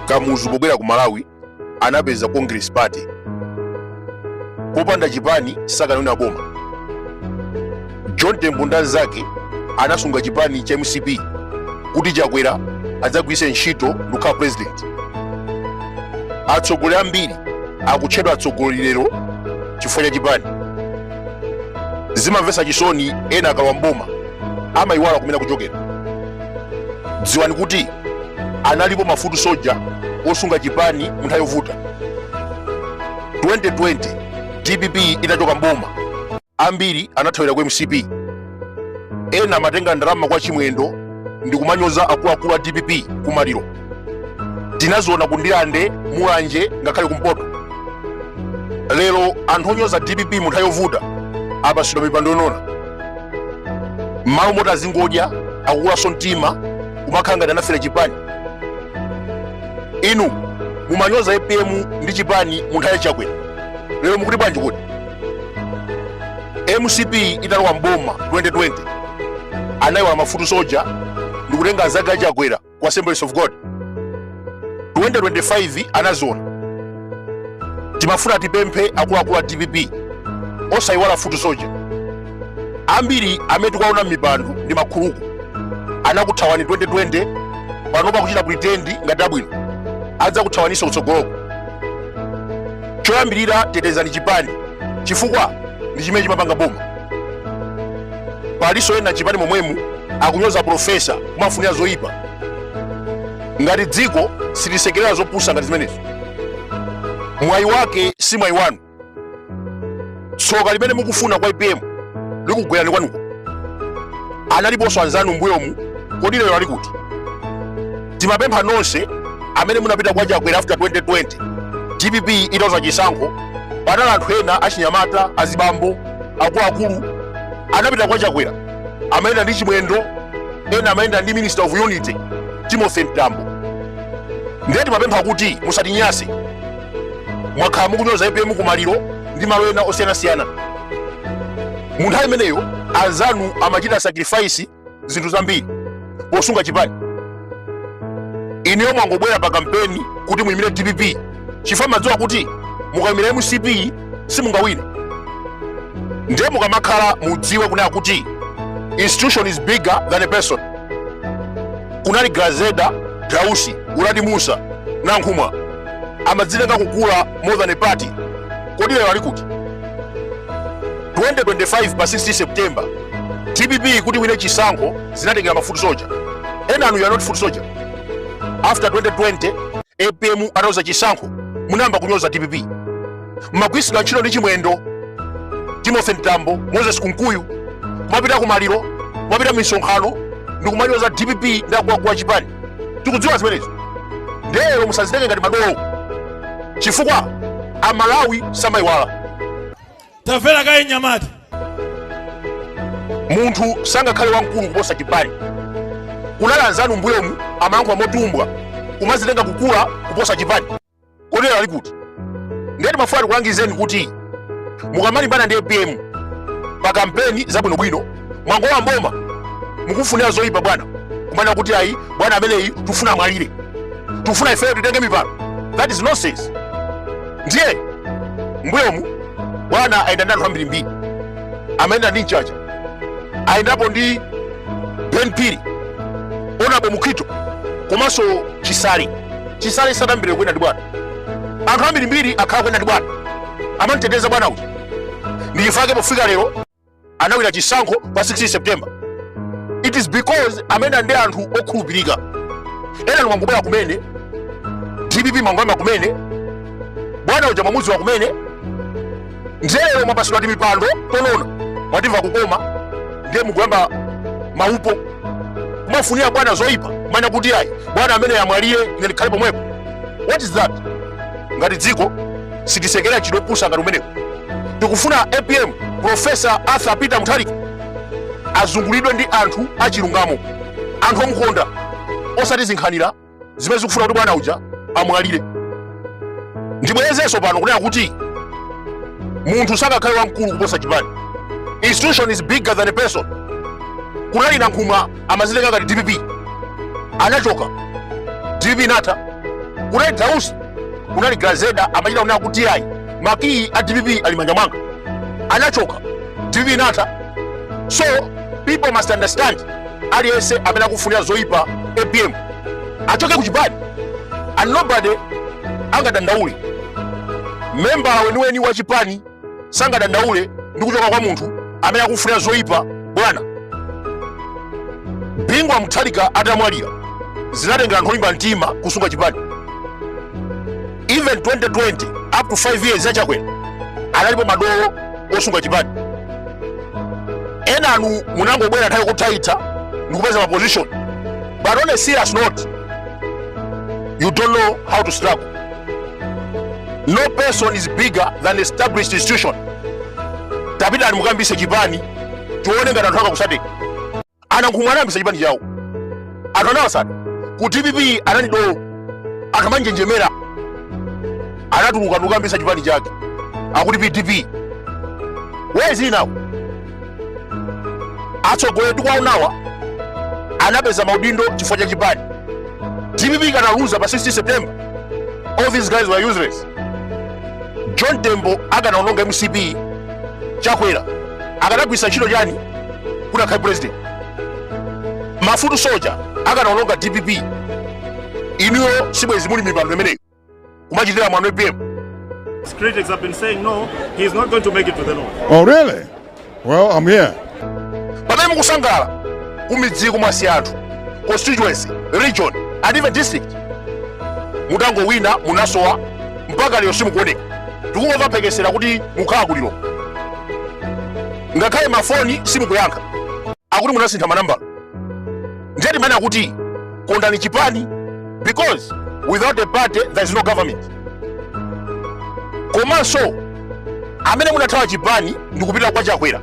kamuzu pobwera ku malawi anapeza congress party popanda chipani sakanawina boma john tembo ndi anzake anasunga chipani cha mcp kuti chakwera adzagwiritse ntchito ndikukhala president atsogoleri ambiri akutchedwa atsogoleri lero chifukwa cha chipani zimamvetsa chisoni ena akalowa mboma amayiwala kumene akuchokera dziwani kuti analipo mafutu soja osunga chipani munthawi yovuta 2020 dpp inachoka mboma ambiri anathawira ku mcp ena amatenga ndalama kwa chimwendo ndi kumanyoza akuluakulu a dpp kumaliro tinaziona kundilande mulanje ngakhale kumpoto lero anthu onyoza dpp mu nthawi yovuta apasidwa mipando yonona mmalo moti azingodya akukulaso mtima kumakhala ngati anafera chipani inu mumanyoza apm ndi chipani mu nthawi yachakwera lero mukuti bwanji kodi mcp italowa mboma 2020 anayiwala mafutu soja ndikutenga anzake a chakwera ku assemblies of god 2025 anaziona timafuna tipemphe akuluakulu a dpp osayiwala futu soja ambiri amene tikuwaona m'mipando ndi makhuluku anakuthawani 2020 panopa akuchita pretend ngati abwino adzakuthawaninso kutsogoloko choyambirira tetezani chipani chifukwa ndi chimene chimapanga boma paliso ena chipani momwemu akunyoza profesa kumafunira zoyipa ngati dziko silisekerera zopusa ngati zimenezo mwayi wake si mwayi wanu tsoka limene mukufuna kwa apm likugwerani kwanuko analiponso anzanu mbuyomu kodi lero ali kuti timapempha nonse amene munapita kwa chakwera after 2020 dpp italuza chisankho panali anthu ena achinyamata azibambo akuluakulu anapita kwa chakwera amayenda ndi chimwendo ena amayenda ndi minister of unity timothy mtambo ndiye timapempha kuti musatinyanse mwakhala mukunyoza apm kumaliro ndi malo ena osiyanasiyana mu nthawi imeneyo anzanu amachita sacrifice zinthu zambiri posunga chipani inuyo mwangobwera pa kampeni kuti muyimire dpp chifukwa mmadziwa kuti mukayimira mcp simungawine ndiye mukamakhala mudziwe kunena kuti institution is bigger than a person kunali grezelder dausi uladi musa nankhumwa amadzitenga kukula more than a party kodi lero ali kuti 2025 pa 16 september dpp kuti wine chisankho zinatengera ma foot soldier enanu you are not foot soldier after 2020 apm ataluza chisankho munayamba kunyoza dpp mmagwiritsidwa ntchito ndi chimwendo timothy mtambo moses kunkuyu kumapita kumaliro kumapita misonkhano ndikumanyoza dpp ndi akuluakulu a chipani tikudziwa zimenezo nde lero musazitenge ngati madolo chifukwa amalawi samayiwala tamvera kaye nyamata munthu sangakhale wamkulu kuposa chipani kunali anzanu mbuyomu amayankhula motumbwa kumazitenga kukula kuposa chipani kodi lero ali kuti ndiye timafuna tikulangizeni kuti mukamalimbana ndi apm pa kampeni zabwinobwino mwangolowa m'boma mukufunira zoyipa bwana kumanena kuti ayi bwana ameneyi tufuna amwalire tufuna ifeyo titenge mipando that is nonsense ndiye mbuyomu bwana ayenda ndi anthu ambirimbiri amayenda ndi mchacha ayendapo ndi ben phiri honourable mukhito komanso chisale chisale sadayambire kuyenda ndi bwana anthu ambirimbiri akhala akuyenda ndi bwana amamteteza bwana uja ndichifake pofika lero anawina chisankho pa 16 september it is because amene ndi anthu okhulupirika enanu mwangobwera kumene dpp mwangoyamba kumene bwana uja mwamudziwa kumene nde lero mwapasidwa timipando tonona mwatimva kukoma ndiye mukuyamba maupo kumafunira bwana zoyipa kumanena kuti ayi bwana ameneyu amwalire ine ndikhale pomwepo what is that ngati dziko sitisekerera zopusa ngati zimenezo tikufuna apm profesa arthur peter mutharika azungulidwe ndi anthu achilungamo anthu omukonda osati zinkhanira zimene zikufuna kuti bwana uja amwalire ndibwerezenso pano kunena kuti munthu sangakhale wamkulu kuposa chipani institution is bigger than a person kunali nankhumwa amazitenga ngati dpp anachoka dpp inatha kunali dausi kunali grezelder amachita kunena kuti ayi makiyi a dpp ali m'manja mwanga anachoka dpp inatha so people must understand aliyense amene akufunira zoyipa apm achoke kuchipani and nobody angadandaule membala weniweni wa chipani sangadandaule ndi kuchoka kwa munthu amene akufunira zoyipa bwana bingu wa mutharika atamwalira zinatengera anthu olimba mtima kusunga chipani even 2020 up to 5 years ya chakwera analipo madolo osunga chipani enanu munangobwera nthawi kuthaitha ndikupeza ma position but on a serious note you don't know how to struggle no person is bigger than established institution tapitani mukayambise chipani tione ngati anthu akakusateni a Nankhumwa anayambisa chipani chawo anthu anawasata ku dpp anali dolo akamanjenjemera anatuluka ndikukayambisa chipani chake akuti pdp where is he now atsogoleri tikuwaonawa anapeza maudindo chifukwa cha chipani dpp ikanaluza pa 16 september all these guys were useless john tembo akanaononga mcp chakwera akanagwiritsa ntchito chani kuti akhale president mafutu soja akanaononga dpp inuyo sibwezi muli m'mipando imeneyo kumachitira mwano apm His critics have been saying no, he is not going to make it to the north. Oh, really? Well, I'm here. pamene mukusangalala kumidziku mwasiya anthu constituency region and even district mutangowina munasowa mpaka lero simukuoneka tikungomva mphekesera kuti mukhala kuliro ngakhale mafoni simukuyankha akuti munasintha manambala ndiye timanena kuti kondani chipani because without a party there is no government komanso amene munathawa chipani ndikupita kwa chakwera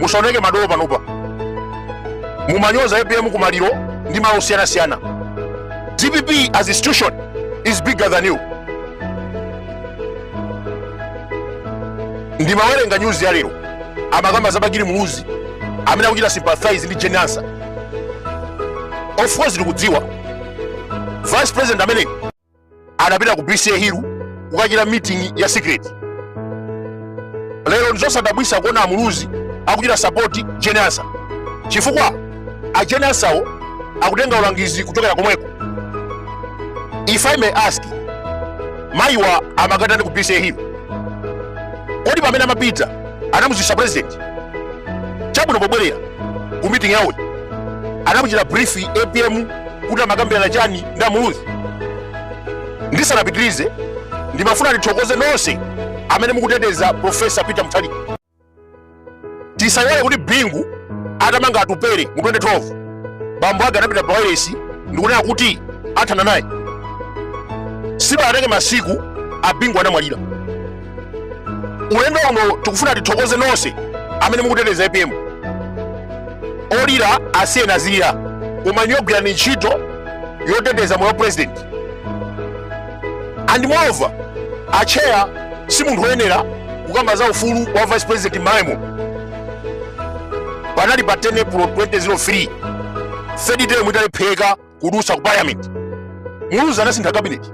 musaoneke madolo panopa mumanyoza apm kumaliro ndi malo osiyanasiyana dpp as institution is bigger than you ndimawerenga nyuzi ya lero amakamba za bakili muluzi amene akuchita sympathize ndi jane ansa of course tikudziwa vice president amene anapita ku bca hill kukachita meeting ya secret lero ndizosadabwisa kuona amuluzi akuchita sapoti jane ansa chifukwa a jane ansawo akutenga ulangizi kuchokera komweko if i may ask mayiwa amakatani ku bca hill kodi pamene amapita anamuziwisa president chabwino pobwerera ku meeting yawo anamuchita brief apm kuti amakambirana chani ndi amuluzi ndisanapitirize ndimafuna ndithokoze nonse amene mukuteteza profesa peter muthalika tisaiwale kuti bingu atamanga atupere mu 2012 bambo ake anapita pa wailesi ndikunena kuti athana naye sipanatenge masiku abingu anamwalira ulendo uno tikufuna tithokoze nonse amene mukuteteza apm olira asiyeni azilira koma inuyo gwirani ntchito yoteteza moyo wa president and moreover atcheya si munthu woyenera kukamba za ufulu wa vice president mmaemo panali pa 10 april 2003 third term italephereka kudutsa ku parliament muluzi anasintha kabineti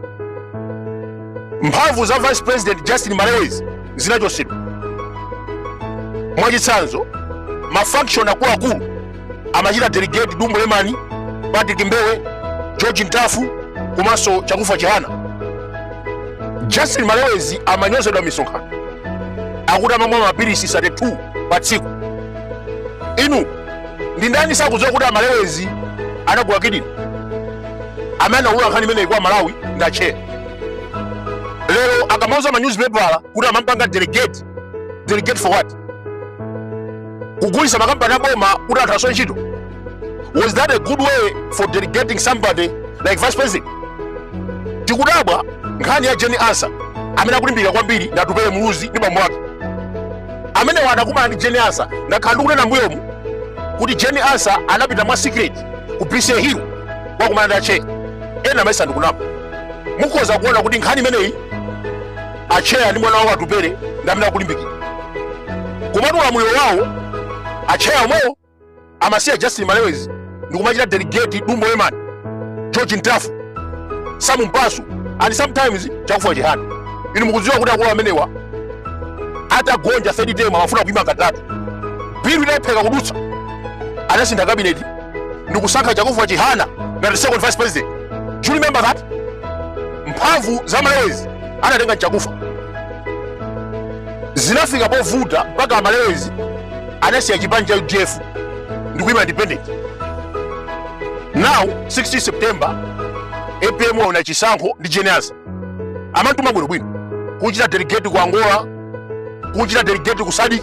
mphamvu za vice president justin malewezi zinachotsedwa mwachitsanzo mafaction akuluakulu amachita delegate dumbo lemani patrick mbewe george ntafu komanso chakufa chihana justin malewezi amanyozedwa misonkhano akuti amamwa mapilisi 32 pa tsiku inu ndi ndani sakudziwa kuti amalewezi anagula kidini amene anaulula nkhani imeneyi kwa amalawi ndi atcheya lero akamauza manyuzipepala kuti amampanga delegate delegate for what kugulisa makampani aboma kuti anthu asowe ntchito was that a good way for delegating somebody like vice president tikudabwa nkhani ya jane ansah amene akulimbikira kwambiri ndi atupele muluzi ndi bambo wake amenewa anakumana ndi jane ansah ndakhala ndikunena mbuyomu kuti jane ansah anapita mwa secret ku bca hill kukakumana ndi atcheya ena amayesa ndikunama mukhoza kuona kuti nkhani imeneyi atcheya ndi mwana wawo atupele ndi amene akulimbikira komatu ulamuliro wawo atcheya omwewo amasiya justin malewezi ndikumachita delegate dumbo lemani george ntafu sam mpasu and sometimes chakufa chihana inu mukudziwa kuti akulu amenewa atagonja third term amafuna kuima katatu bill inalepheka kudutsa anasintha kabineti ndikusankha chakufa chihana ngati second vice president do you remember that mphamvu za malewezi anatenga chakufa zinafika povuta mpaka amalewezi anasiya chipani cha udf ndikuyima independent now 16 september apm wawina chisankho ndi jane ansah amantuma bwinobwino kuchita delegate ku angola kuchita delegate ku sadc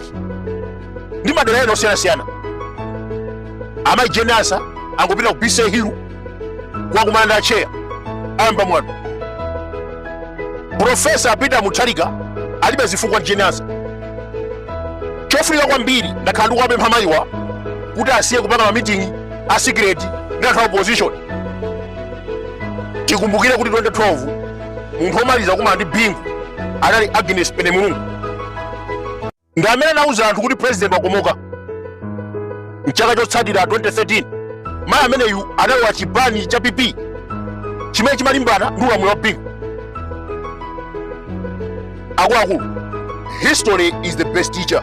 ndi madera ena osiyanasiyana amayi jane ansah angopita ku bca hill kukakumana ndi atcheya ayamba mwano profesa peter mutharika alibe zifukwa ndi jane ansah chofunika kwambiri ndakhala ndikuwapempha mayiwa kuti asiye kupanga mamitingi a sikireti ndi anthu a opposition tikumbukire kuti 2012 munthu omaliza kumana ndi bingu anali agnes penemulungu ndi amene anauza anthu kuti president wakomoka mchaka chotsatira 2013 mayi ameneyu analowa chipani cha pp chimene chimalimbana ndi ulamuliro wa bingu akuluakulu history is the best teacher